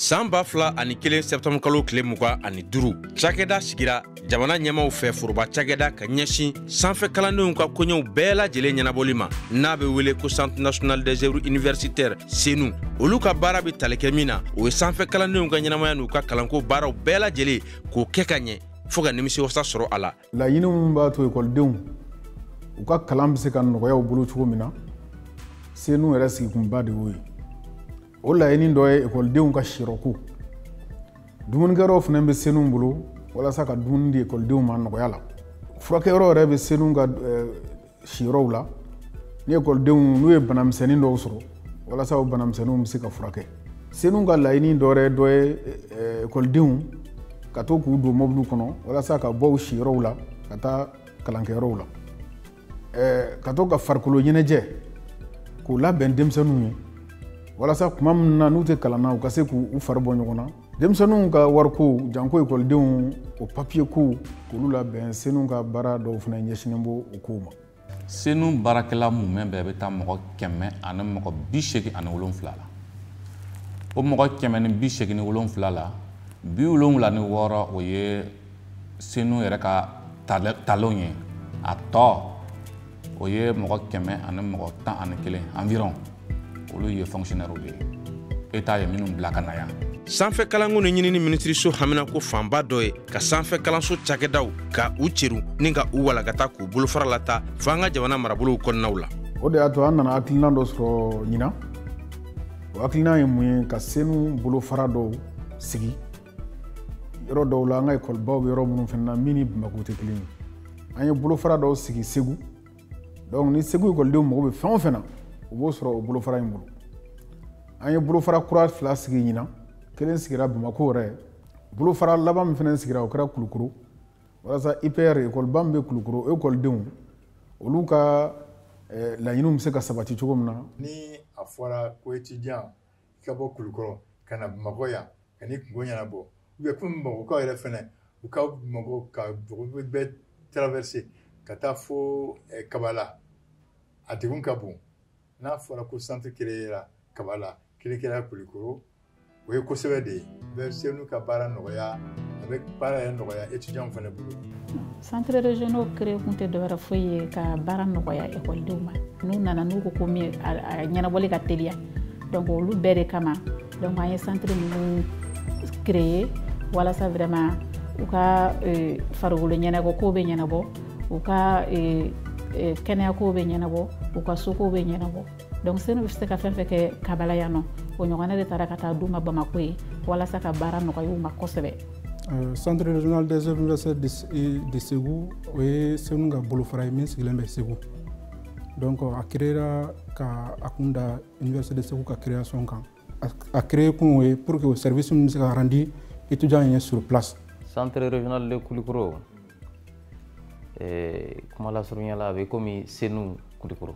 san ba fila ani kelen sɛtanburukalo tile mugan ani duru cakɛda sigira jamana ɲɛmaw fɛ foroba cakɛda ka ɲɛsin sanfɛ kalandenw ka koɲɛw bɛɛ lajɛlen ɲɛnabɔli ma n'a be wele ko centre national des œuvres universitaires senu olu ka baara be tali kɛ min na o ye sanfɛ kalandenw ka ɲɛnamaya n'u ka kalanko baaraw bɛɛ lajɛlen k'o kɛ ka ɲɛ fo ka nimisiwasa sɔrɔ a la laɲini min b'a to ekɔlidenw u ka kalan bɛ se ka nɔgɔya u bolo cogo min na senu yɛrɛ sigikunba de y'o ye o laɲini dɔ ye ekɔlidenw ka siyɔrɔko dumunikɛyɔrɔw fana bɛ senu bolo walasa ka dumuni di ekɔlidenw ma nɔgɔya la furakɛyɔrɔ yɛrɛ bɛ senu ka siyɔrɔw la ni ekɔlidenw n'u ye banamisɛnnin dɔw sɔrɔ walasa o banamisɛnninw bɛ se ka furakɛ senu ka laɲini dɔ wɛrɛ dɔ ye ekɔlidenw ka to k'u don mɔbiliw kɔnɔ walasa ka bɔ u siyɔrɔw la ka taa kalankɛyɔrɔw la ka to ka farikolo ɲɛnajɛ ko labɛn denmisɛnninw ye walasa kuma min na n'u tɛ kalan na u ka se k'u fari bɔ ɲɔgɔn na denmisɛnninw ka wariko janko ekɔlidenw o papiye kow k'olu labɛn senu ka baara dɔw fana ɲɛsinen b'o o kow ma senu baarakɛla mumɛ bɛɛ bɛ taa mɔgɔ kɛmɛ ani mɔgɔ bi segin ani wolonfila la o mɔgɔ kɛmɛ ni bi segin ni wolonfila la bi wolonwula ni wɔɔrɔ o ye senu yɛrɛ ka talenw ye a tɔ o ye mɔgɔ kɛmɛ ani mɔgɔ tan ani kelen environ olu ye fonctionnaire de ye état ye minnu bila ka na yan sanfɛ kalanko ni ɲinini minisiriso haminako fanba dɔ ye ka sanfɛ kalanso cakɛdaw ka u ceru ni ka u walagata k'u bolofara lataa fo an ka jamana marabolow kɔnɔnaw la o de y'a to an nana hakilinan dɔ sɔrɔ ɲinan o hakilinan ye mun ye ka senu bolofara dɔw sigi yɔrɔ dɔw la an ka ekɔlibaw bɛ yɔrɔ minnu fana na min ni bamakɔ tɛ kelen ye an ye bolofara dɔw sigi segu donc ni segu ekɔlidenw mago bɛ fɛn o fɛn na u b'o sɔrɔ o bolofara in bolo an ye bolofara kura fila sigi ɲinan kelen sigira bamakɔ yɛrɛ bolofara laban min fana sigira o kɛra kulukoro walasa ipr ekɔliba min bɛ kulukoro o ekɔlidenw olu ka eh, laɲiniw bɛ se ka sabati cogo min na ni a fɔra ko etidiyan ka bɔ kulukɔrɔ ka na bamakɔ yan ka n'i kunko ɲɛnabɔ ou bien kɔmi bamakɔkaw yɛrɛ fana u ka bamakɔ ka bɛɛ traverser ka taa fo eh, kabala a degun ka bon n'a fɔra ko centre kelen kɛra kabala kelen kɛra kulikoro o ye ko sɛbɛ de ye bɛ senu ka baara nɔgɔya a bɛ baara yɛrɛ nɔgɔya étudiants fana bolo centres régionaux créé kun tɛ dɔwɛrɛ foyi ye ka baara nɔgɔya ekɔlidenw ma n'u nana n'u ko ko min a ɲɛnabɔli ka teliya donc olu bɛɛ de kama donc an ye centre ninnu créé walasa vraiment u ka euh, farikolo ɲɛnajɛ kow bɛ ɲɛnabɔ u ka euh, euh, kɛnɛyakow bɛ ɲɛnabɔ u ka sokow bɛ ɲɛnabɔ donc senu bɛ se ka fɛn fɛn kɛ kabala yan nɔ o ɲɔgɔnna de taara ka taa d'u ma bamako yen walasa ka baara nɔgɔya u ma kosɛbɛ euh, centre régional des œuvres universitaires de Ségou o ye senu ka bolofara ye min sigilen bɛ Ségou donc a créera ka a kun da université de Ségou ka création kan a créé kun o ye pour que o service min bɛ se ka rendu étudiant ye sur place centre régional de Kulikoro eh, kuma lasurunya la a bɛ komi senu Kulikoro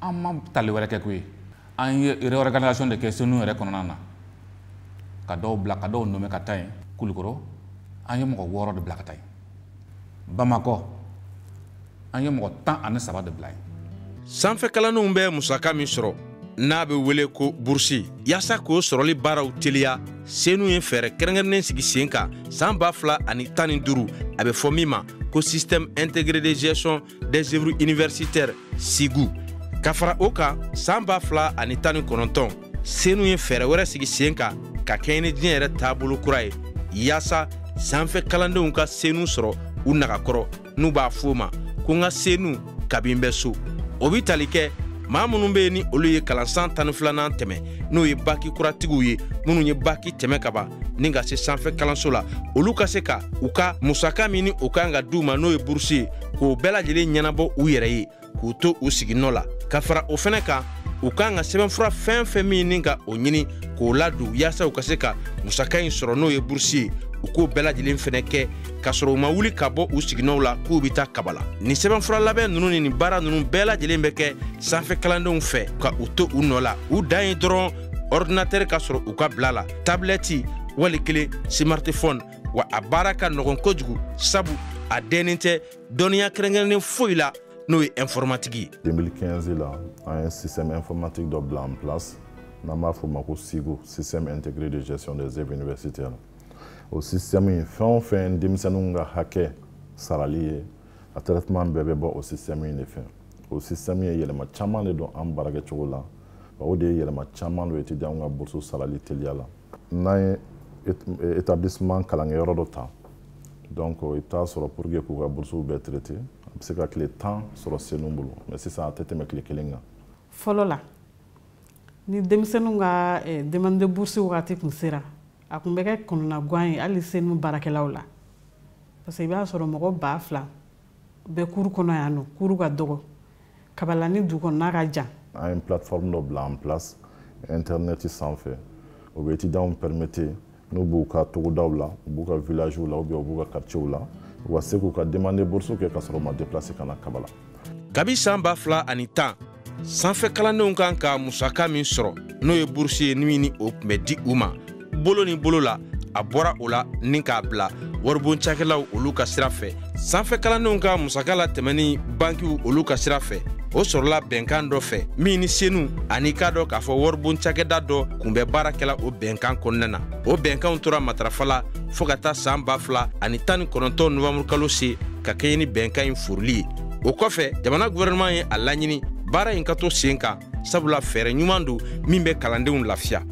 an ma tali wɛrɛ kɛ koyi an ye réorganisation de kɛ senu yɛrɛ kɔnɔna na ka dɔw bila ka dɔw nommer ka taa yen kulukoro an ye mɔgɔ wɔɔrɔ de bila ka taa yen bamakɔ an ye mɔgɔ tan ani saba de bila yen sanfɛ kalandenw bɛ musaka min sɔrɔ n'a bɛ wele ko burusi yaasa k'o sɔrɔli baaraw teliya senu ye fɛɛrɛ kɛrɛnkɛrɛnnen sigi sen kan san ba fila ani tan ni duru a bɛ fɔ min ma ko système intégré de gestion des œuvres universitaires sigu ka fara o kan san ba fila ani tan ni kɔnɔntɔn senu ye fɛɛrɛ wɛrɛ sigi sen kan ka kɛɲɛ ni diɲɛ yɛrɛ taabolo kura ye yaasa sanfɛ kalandenw ka senu sɔrɔ u nagakɔrɔ n'u b'a f'o ma ko n ka senu kabi n bɛ so o bi tali kɛ maa minnu bɛ yen ni olu ye kalansan tan ni filanan tɛmɛ n'o ye baki kuratigiw ye minnu ye baki tɛmɛ ka ban ni ka se sanfɛ kalanso la olu ka se ka u ka musaka min ni o ka kan ka di u ma n'o ye burusi ye k'o bɛɛ lajɛlen ɲɛnabɔ u yɛrɛ ye k'u to u siginɔ la ka fara o fɛnɛ kan u kan ka sɛbɛnfura fɛn fɛn min ni ka o ɲini k'o ladon yaasa u ka se ka musaka nin sɔrɔ n'o ye burusi ye u k'o bɛɛ lajɛlen fɛnɛ kɛ k'a sɔrɔ u ma wuli ka bɔ u siginɔw la k'u bɛ taa kabala nin sɛbɛnfura labɛn nunu ni nin baara nunu bɛɛ lajɛlen bɛ kɛ sanfɛ kalandenw fɛ ka u to u nɔ la u dan ye dɔrɔn ɔridinatɛri ka sɔrɔ u ka bila la tabilɛti wali kelen smartphone wa a baara ka nɔgɔn kojugu sabu a dɛnnen tɛ dɔnniya kɛrɛnkɛrɛnnen foyi la n'o ye informatique ye 2015 la an ye système informatique dɔ bila en place n'an b'a f'o ma ko sigo système intégré de gestion des œuvres universitaires o système in fɛn o fɛn denmisɛnninw ka hakɛ sarali ye a traitement bɛɛ bɛ bɔ o système in de fɛ o système ye yɛlɛma caman de don an baarakɛcogo la o de ye yɛlɛma caman don étudiants ka bourse sarali teliya la n'an ye établissement kalankɛyɔrɔ dɔ ta donc i bɛ t'a sɔrɔ pour que k'u ka burusiw bɛɛ traiter a bɛ se ka tile tan sɔrɔ senu bolo mais sisan a tɛ tɛmɛ tile kelen kan. fɔlɔ la ni denmisɛnninw ka eh, demande de bourse wagati tun sera a tun bɛ kɛ kɔnɔnagwan ye hali senu baarakɛlaw la parce que i b'a sɔrɔ mɔgɔ ba fila bɛ cour kɔnɔ yan nɔ cour ka dɔgɔ kabala ni dugu kɔnɔna ka jan an ye plateforme dɔ bila en place internet sanfɛ o bɛ étudiantw permettre n'u b'u ka togodaw la u b'u ka villagew la ou bien u b'u ka quartierw la u ka se k'u ka demande bourse kɛ ka sɔrɔ u ma déplacer ka na kabala kabi san ba fila ani tan sanfɛ kalandenw kan ka musaka min sɔrɔ n'o ye burusi ye ni ni o tun bɛ di u ma bolo ni bolo la a bɔra o la ni k'a bila waribon cakɛlaw olu ka sira fɛ sanfɛ kalandenw ka musaka latɛmɛni bankiw olu ka sira fɛ o sɔrɔla bɛnkan dɔ fɛ min ni senu ani k'a dɔn k'a fɔ waribon cakɛda dɔ kun bɛ baara kɛla o bɛnkan kɔnɔna na o bɛnkanw tora matarafa la fo ka taa san ba fila ani tan ni kɔnɔntɔn novanburukalo se ka kɛɲɛ ni bɛnkan in foorili ye o kɔfɛ jamana guvɛrɛnɛman ye a laɲini baara in ka to sen kan sabula fɛɛrɛ ɲuman don min bɛ kalandenw lafiya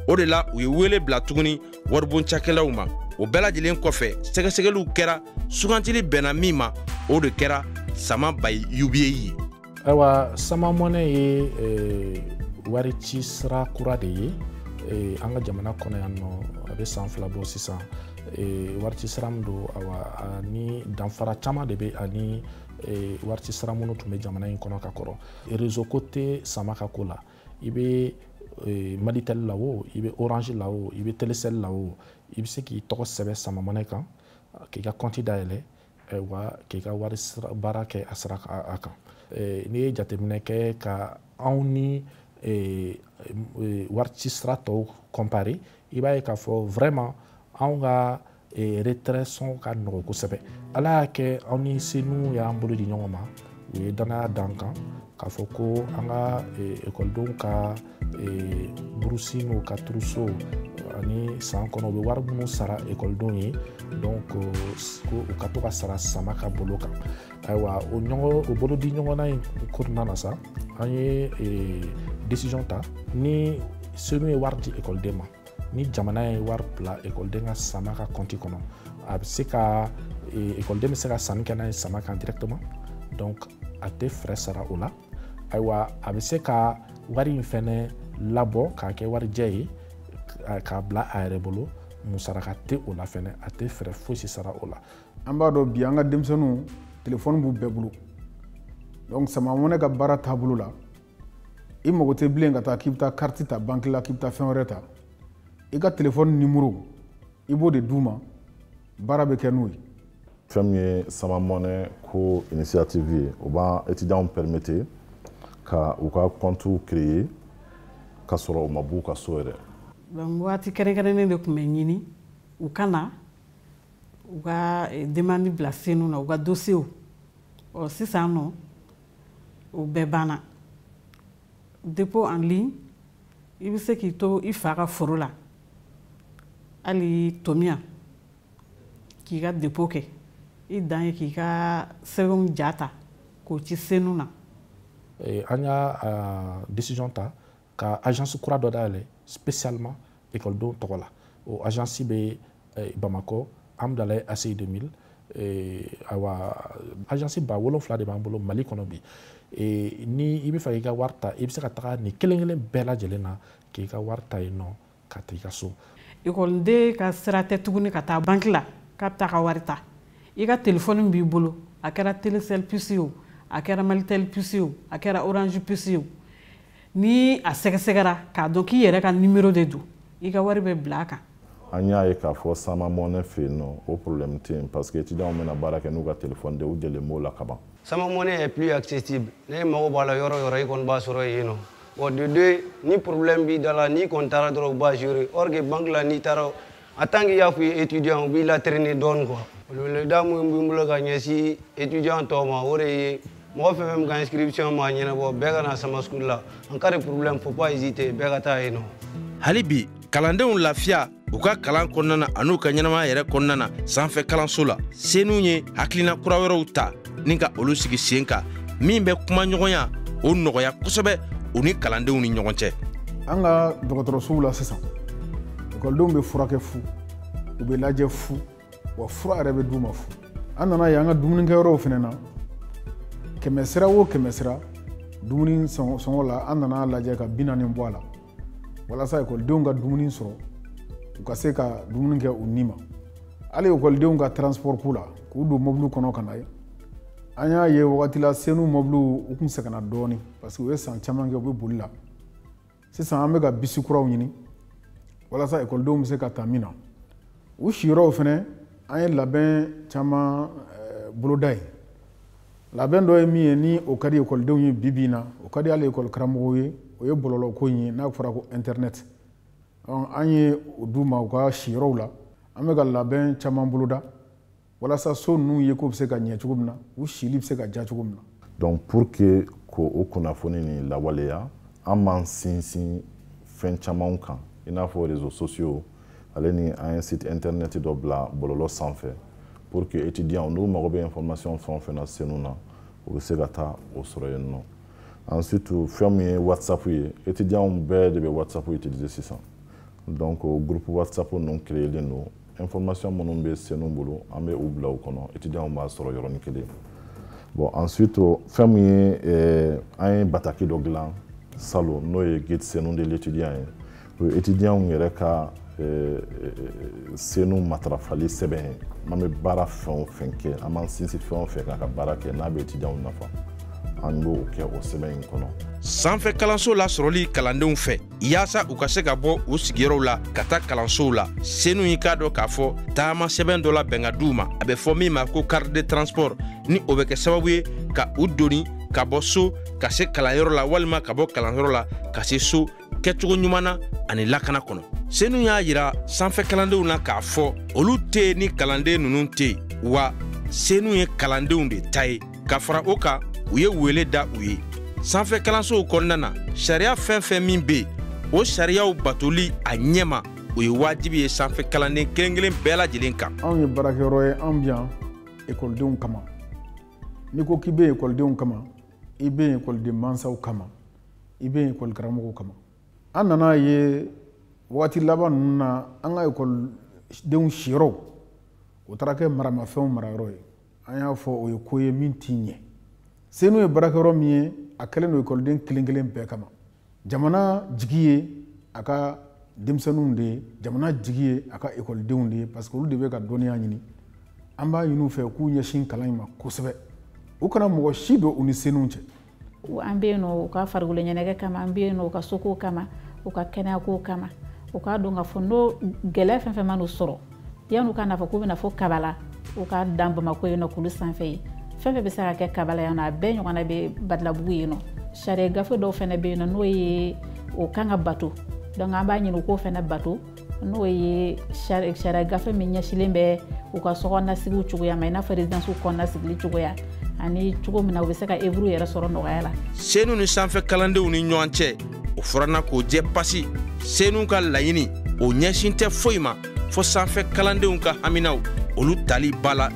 o de la u ye wele bila tuguni waribon cakɛlaw ma o bɛɛ lajɛlen kɔfɛ sɛgɛsɛgɛliw kɛra sugantili bɛnna min ma o de kɛra sama by UBA ye ayiwa sama money ye eh, wari ci sira kura de ye eh, an ka jamana kɔnɔ yan nɔ a bɛ san fila bɔ sisan wari ci sira min don awa ani danfara caman de bɛ a ni wari ci sira minnu tun bɛ jamana in kɔnɔ ka kɔrɔ rezo ko tɛ sama ka ko la i bɛ malitɛli la wo i bɛ orange la wo i bɛ telesɛli la wo i bɛ se k'i tɔgɔ sɛbɛn sama money kan k'i ka kɔnti dayɛlɛ wa k'i ka wari baara kɛ a sira kan n'i ye jateminɛ kɛ ka anw ni wari ci sira tɔw kɔnpare i b'a ye k'a fɔ vraiment anw ka retrait sɔngɔ ka nɔgɔ kosɛbɛ ala y'a kɛ anw ni senu y'an bolo di ɲɔgɔn ma u ye danaya d'an kan k'a fɔ ko an ka ekɔlidenw ka ee burusi n'u ka trousseau ani san kɔnɔ u bɛ wari minnu sara ekɔlidenw ye donc ko u ka to ka sara sama ka bolo kan ayiwa o ɲɔgɔn o bolodi ɲɔgɔnna in kɔnɔna na sa an ye ee decision ta ni senu ye wari di ekɔliden ma ni jamana ye wari bila ekɔliden ka sama ka kɔnti kɔnɔ a bɛ se ka ekɔliden bɛ se ka sanni kɛ n'a ye sama kan directement donc a tɛ frais sara o la ayiwa a bɛ se ka wari in fɛnɛ labɔ k'a kɛ warijɛ ye k'a bila a yɛrɛ bolo musaraka tɛ o la fɛnɛ a tɛ frais fosi sara o la an b'a dɔn bi an ka denmisɛnninw telefɔni b'u bɛɛ bolo donc sama mɔnɛ ka baara taabolo la i mago tɛ bilen ka taa k'i bɛ taa kariti ta banki la k'i bɛ taa fɛn wɛrɛ ta i ka telefɔni nimoro i b'o de d'u ma baara bɛ kɛ n'o ye fɛn min ye sama mɔnɛ ko initiative ye o b'an étudiants permettre ka u ka compte créer k'a sɔrɔ u ma b'u ka so yɛrɛ donc waati kɛrɛnkɛrɛnnen de tun bɛ ɲini u ka na u ka eh, demande bila senu na u ka dossier ɔ sisan nɔ o bɛɛ banna dépôt en ligne i bɛ se k'i to i fa ka foro la hali tomiya k'i ka dépôt kɛ i dan ye k'i ka sɛbɛnw ja ta k'o ci senu na an y'a décision ta ka agence kura dɔ dayɛlɛ spécialement ekɔlidenw tɔgɔ la o agence bɛ eh, bamakɔ hamdallaye aci 2000 eh, awa agence ba wolonfila de b'an bolo mali kɔnɔ bi eh, ni i bɛ fɛ k'i ka wari ta i bɛ se ka taga nin kelen kelen bɛɛ lajɛlen na k'i ka wari ta yen nɔ ka taa i ka so ekɔliden ka sira tɛ tuguni ka taa banki la k'a bɛ taa ka wari ta i ka telefɔni b'i bolo a kɛra telecel puce o a kɛra malitel puce o a kɛra orange puce o ni a sɛgɛsɛgɛra k'a dɔn k'i yɛrɛ ka nimero de don i ka wari bɛ bila a kan an y'a ye k'a fɔ sama mɔnɛ fɛ yen nɔ o problème tɛ yen parce que étudiants bɛna baara kɛ n'u ka téléphone de u delilen b'o la kaban sama mɔnɛ est plus accessible n'e mago b'a la yɔrɔ yɔrɔ i kɔni b'a sɔrɔ yen nɔ bon de deux ni problème b'i da la n'i kɔni taara dɔrɔn u b'a gérer or que banque la n'i taara en tant que y'a f'i ye étudiant u b'i latraîner dɔɔni quoi weleweleda min bɛ n bolo ka ɲɛsin étudiant tɔw ma o de ye mɔgɔ fɛn fɛn min ka inscription ma ɲɛnabɔ bɛɛ ka na sama school la en cas de problème faut pas hésiter bɛɛ ka taa yen nɔ hali bi kalandenw lafiya u ka kalan kɔnɔna na an'u ka ɲɛnamaya yɛrɛ kɔnɔna na sanfɛ kalanso la senu ye hakilina kura wɛrɛw ta ni ka olu sigi sen kan min bɛ kumaɲɔgɔnya o nɔgɔya kosɛbɛ u ni kalandenw ni ɲɔgɔn cɛ an ka dɔgɔtɔrɔsow la sisan ekɔlidenw bɛ furakɛ fu u bɛ lajɛ fu wa fura yɛrɛ bɛ d'u ma fu an nana ye an ka dumunikɛyɔrɔw fɛnɛ na kɛmɛ sira o kɛmɛ sira dumuni sɔngɔ la an nana lajɛ ka bi naani bɔ a la walasa ekɔlidenw ka dumuni sɔrɔ u ka se ka dumuni kɛ u ni ma hali ekɔlidenw ka transport ko la k'u don mɔbiliw kɔnɔ ka na ye an y'a ye wagati la senu mɔbiliw u kun sɛgɛnna dɔɔni parce que u ye san caman kɛ u bɛ boli la sisan an bɛ ka bisi kuraw ɲini walasa ekɔlidenw bɛ se ka ta min na u siyɔrɔw fɛnɛ an ye labɛn caman eh, boloda yen labɛn dɔ ye min ye ni o ka di ekɔlidenw ye bi bi in na o ka di hali ekɔli karamɔgɔw ye o ye bɔlɔlɔ ko in ye n'a fɔra ko internet an ye o d'u ma u ka siyɔrɔw la an bɛ ka labɛn caman boloda walasa so ninnu ye ko bɛ se ka ɲɛ cogo min na u sili bɛ se ka diya cogo min na donc pour que k'o kunnafoni nin lawaleya an b'an sinsin fɛn camanw kan i n'a fɔ réseaux sociaux ale ni an ye site internet dɔ bila bɔlɔlɔ sanfɛ pour que étudiants n'u mago bɛ information fɛn o fɛn na senu na u bɛ se ka taa o sɔrɔ yen nɔ ensuite fɛn min ye whatsapp ye étudiant bɛɛ de bɛ whatsapp utiliser sisan donc groupe whatsapp ninnu créelen don information minnu bɛ senu bolo an bɛ u bila u kɔnɔ étudiant b'a sɔrɔ yɔrɔnin kelen bon ensuite fɛn min ye eh, an ye bataki dɔ dilan salon n'o ye guide senu de l'étudiant ye O ye etidiyanw yɛrɛ ka eh, eh, senu matarafali sɛbɛn ye n'an bɛ baara fɛn o fɛn kɛ an b'an sinsin fɛn o fɛn kan ka baara kɛ n'a bɛ etidiyanw nafa an b'o kɛ o sɛbɛn in kɔnɔ sanfɛ kalansow lasɔrɔli kalandenw fɛ yaasa u ka se ka bɔ u sigiyɔrɔw la ka taa kalansow la senu y'i k'a dɔn k'a fɔ taama sɛbɛn dɔ labɛn k'a d'u ma a bɛ fɔ min ma ko carte de transport ni o bɛ kɛ sababu ye ka u doni ka bɔ so ka se kalanyɔrɔ la walima ka bɔ kalanyɔrɔ la ka se so kɛcogo ɲuman na ani lakana kɔnɔ senu y'a yira sanfɛ kalandenw na k'a fɔ olu tɛ ni kalanden ninnu tɛ yen wa senu ye kalandenw de ta ye ka fara o kan u ye wele da u ye sanfɛ kalansow kɔnɔna na sariya fɛn fɛn min bɛ yen o sariyaw batoli a ɲɛma o ye wajibi ye sanfɛ kalanden kelen kelen bɛɛ lajɛlen kan anw ye baarakɛyɔrɔ ye an bɛ yan ekɔlidenw kama n'i ko k'i bɛ ekɔlidenw kama i bɛ ekɔliden mansaw kama i bɛ ekɔli karamɔgɔw kama an nan'a ye waati laban ninnu na an ka ekɔlidenw siyɔrɔw o taara kɛ maramafɛnw marayɔrɔ ye an y'a fɔ o ye ko ye min tɛ ɲɛ senu ye baarakɛyɔrɔ min ye a kɛlen don ekɔliden kelen kelen bɛɛ kama jamana jigi ye a ka denmisɛnninw de ye jamana jigi ye a ka ekɔlidenw de ye parce que olu de bɛ ka dɔnniya ɲini an b'a ɲini u fɛ k'u ɲɛsin kalan in ma kosɛbɛ u kana mɔgɔ si don u ni senu cɛ an bɛ yen u ka farikolo ɲɛnajɛ kama an bɛ yen u ka soko kama u ka kɛnɛyako kama u k'a dɔn k'a fɔ n'o gɛlɛya fɛn fɛn man'u sɔrɔ yan'u ka n'a fɔ k'u bɛ na fo kabala u ka dan bamakɔ yen nɔ kulu sanfɛ ye fɛn fɛn bɛ se ka kɛ kabala yan nɔ a bɛɛ ɲɔgɔnna bɛ badalabugu yen nɔ sariya gafe dɔw fɛnɛ bɛ yen nɔ n'o ye o kan ka bato donc an b'a ɲini u k'o fɛnɛ bato n'o ye sariya gafe min ɲɛsilen bɛ u ka sokɔnɔnasigiw cogoya ma i n'a fɔ rezidansiw kɔnɔnasigili cogoya ani cogo min na u bɛ se ka œuvre yɛrɛ sɔrɔ nɔgɔya la senu ni sanfɛ kalandenw ni ɲɔgɔn cɛ o fɔrana k'o jɛ pasi senu ka laɲini o ɲɛsin tɛ foyi ma fo sanfɛ kalandenw ka haminaw olu tali ba la